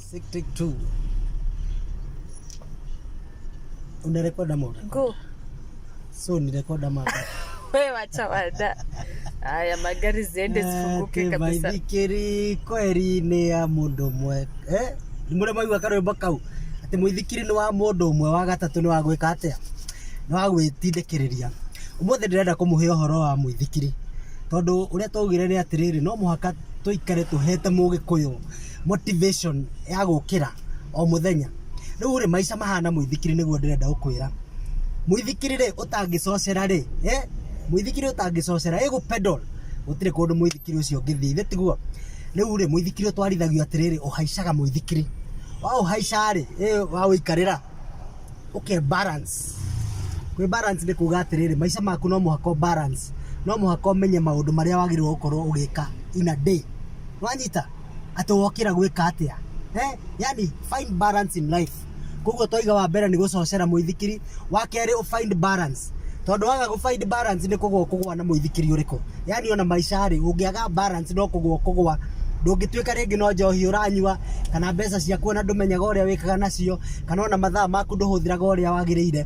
Sick take two. Unarekod ama unarekod? go So ni rekod ama unarekod? we wacha wada haya magari ziende zifunguke Ake kabisa maithikiri kweri nĩ ya mũndũ ũmwe Eh, nĩ mũrĩa maigua karwĩmbo kau atĩ mũithikiri nĩ wa mũndũ ũmwe wa gatatũ nĩ wa gwĩka atĩa nĩ wa gwĩtindĩkĩrĩria ũmũthĩ ndĩrenda kũmũhe ũhoro wa mũithikiri tondũ ũrĩa twaugire nĩ atĩrĩrĩ no mũhaka tũikare tũhete mũgĩkũyũ motivation ya gũkĩra o mũthenya rĩu rĩ maica mahana mũithikiri nĩguo ndĩrenda gũkwĩra mũithikiri rĩ ũtangĩcocera rĩ eh? mũithikiri ũtangĩcocera ĩgũ pedal gũtirĩ kũndũ mũithikiri ũcio ũngĩthiĩ nĩ tiguo rĩu rĩ mũithikiri ũtwarithagio atĩrĩrĩ ũhaicaga mũithikiri wa ũhaica rĩ eh, wa ũikarĩra ũke balance kwĩ balance nĩ kuga atĩrĩrĩ maica maku no mũhaka ũ balance no mũhaka ũmenye maũndũ marĩa wagĩrĩirwo gũkorwo ũgĩka in a day wanyita atĩ wokĩra gwĩka atĩa eh? yani find balance in life koguo twaiga wa mbere nĩ gũcocera mũithikiri wa kerĩ ũ find balance tondũ waga gũ find balance nĩ kũgwa kũgwa na mũithikiri ũrĩkũ yani ona maica rĩ ũngĩaga balance no kũgwa kũgwa ndũngĩtuĩka rĩngĩ no njohi ũranyua kana mbeca ciaku ona ndũmenyaga ũrĩa wĩkaga nacio kana ona mathaa maku ndũhũthĩraga ũrĩa wagĩrĩire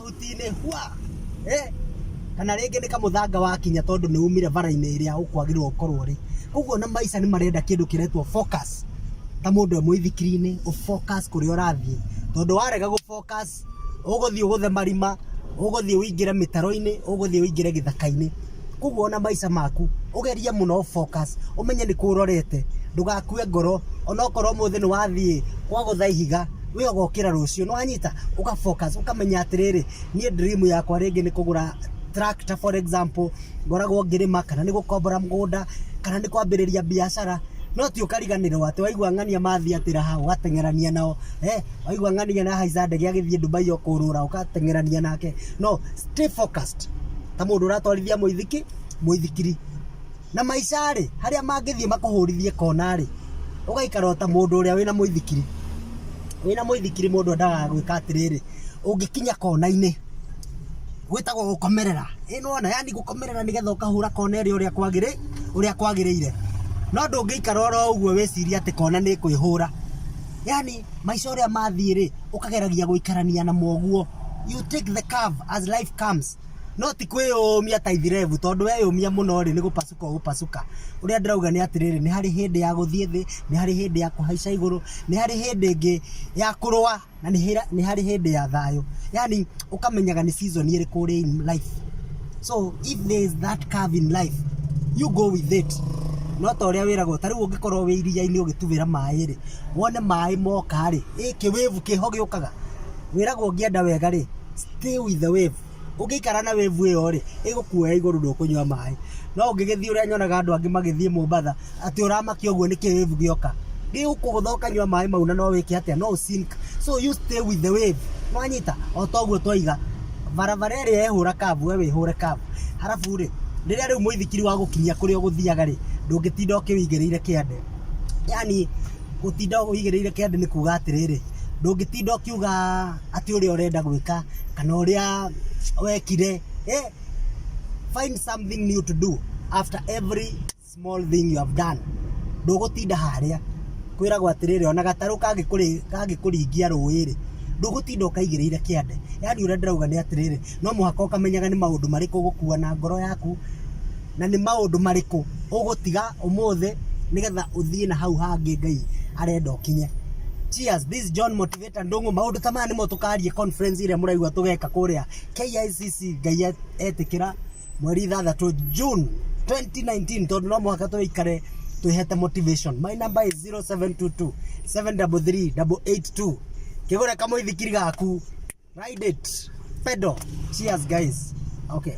Ruti-inĩ hwa eh, kana rĩngĩ nĩ kamũthanga wakinya tondũ nĩ umire bara-inĩ ĩrĩa ũkwagĩrĩrwo ũkorwo ũrĩ koguo na maica nĩ marenda kĩndũ kĩretwo focus ta mũndũ e mũithikiri-inĩ ũfocus kũrĩa ũrathiĩ tondũ warega gũfocus ũgũthiĩ ũgũthe marima ũgũthiĩ ũingĩre mĩtaro-inĩ ũgũthiĩ ũingĩre gĩthaka-inĩ koguo ona maica maku ugerie muno focus umenye ni kurorete ndugakue ngoro onokorwo muthi ni wathiĩ kwagũtha ihiga we ugokira rucio nwanyita uka focus ukamenya atiriri nie dream yakwa ringi ni kugura tractor for example ngoragwo ngirima kana ni gukombora mugunda kana ni kwambiriria biashara no ti ukariganirwo ati waigua ng'ania mathi atira ha ugatengerania nao eh waigua ng'ania na haiza ndege agithie Dubai okurura ugatengerania nake no stay focused ta mũndũ ũratwarithia mũithiki mũithikiri na maica rĩ harĩa mangĩthiĩ makũhũrithie kona rĩ ũgaikara ta mũndũ ũrĩa wĩna mũithikiri wĩna mũithikiri mũndũ endaga gwĩka atĩrĩrĩ ũngĩkinya kona-inĩ gwĩtagwo gũkomerera ĩno ona yani gũkomerera nĩgetha ũkahũra kona ĩrĩa ũrĩa kwagĩrĩ ũrĩa kwagĩrĩire no ndũngĩikara oro ũguo wĩciria atĩ kona nĩ kwĩhũra yani maica ũrĩa mathiĩ rĩ ũkageragia gũikarania na moguo you take the curve as life comes no ti kwĩyũmia ta ithirebu tondũ weyũmia mũno rĩ nĩ gũpacuka ũgũpacuka ũrĩa ndĩrauga nĩ atĩrĩrĩ nĩ harĩ hĩndĩ ya gũthiĩ thĩ nĩ harĩ hĩndĩ ya kũhaica igũrũ nĩ harĩ hĩndĩ ĩngĩ ya kũrũa na nĩ harĩ hĩndĩ ya thayũ yani ũkamenyaga nĩ season ĩrĩkũ ũrĩ in life so if there is that curve in life you go with it no ta ũrĩa wĩragwo ta rĩu ũngĩkorwo wĩ iria-inĩ ũgĩtubĩra maĩ rĩ wone maĩ moka rĩ ĩkĩ wĩvu kĩho gĩũkaga Wĩragwo ũngĩenda wega-rĩ, stay with the wave. Ũngĩikara na wave ĩyo-rĩ, ĩgũkuoya igũrũ ndũkũnyua maĩ. No ũngĩgĩthiĩ ũrĩa nyonaga andũ angĩ magĩthiĩ Mombatha, atĩ ũramakia ũguo nĩkĩ wave gĩoka. Gĩgũkũgũtha ũkanyua maĩ mau na no wĩke atĩa, no ũ sink. So you stay with the wave. Nĩwanyita? O ta ũguo twaiga, barabara ĩrĩa ĩhũra curve we wĩhũre curve. Harabu-rĩ, rĩrĩa rĩu mũithikiri wagũkinyia kũrĩa ũgũthiaga-rĩ, ndũngĩtinda ũkĩwĩigĩrĩire kĩande. Yaani gũtinda ũwĩigĩrĩire kĩande nĩ kuga atĩrĩrĩ. ndũngĩtinda ũkiuga atĩ ũrĩa ũrenda gwĩka kana ũrĩa wekire eh, find something new to do after every small thing you have done ndũgũtinda harĩa kwĩragwo atĩrĩrĩ ona gatarũ kangĩkũrĩ- kangĩkũringia rũĩ-rĩ ndũgũtinda ũkaigĩrĩire kĩande yani ũrĩa ndĩrauga nĩ atĩrĩrĩ no mũhaka ũkamenyaga nĩ maũndũ marĩkũ ũgũkua na ngoro yaku na nĩ maũndũ marĩkũ ũgũtiga ũmũthĩ nĩgetha ũthiĩ na hau hangĩ Ngai arenda ũkinye. Cheers, this is John Motivator Ndung'u. Maũndũ ta maya nĩmo tũkaarie conference ĩrĩa mũraigua tũgeka kũrĩa KICC Ngai etĩkĩra mweri ithathatũ June 2019 tondũ no mũhaka tũikare twĩhete motivation. My number is 0722 733 882. Kĩgũre kamũithikiri gaku. Ride it. Pedal. Cheers guys. Okay.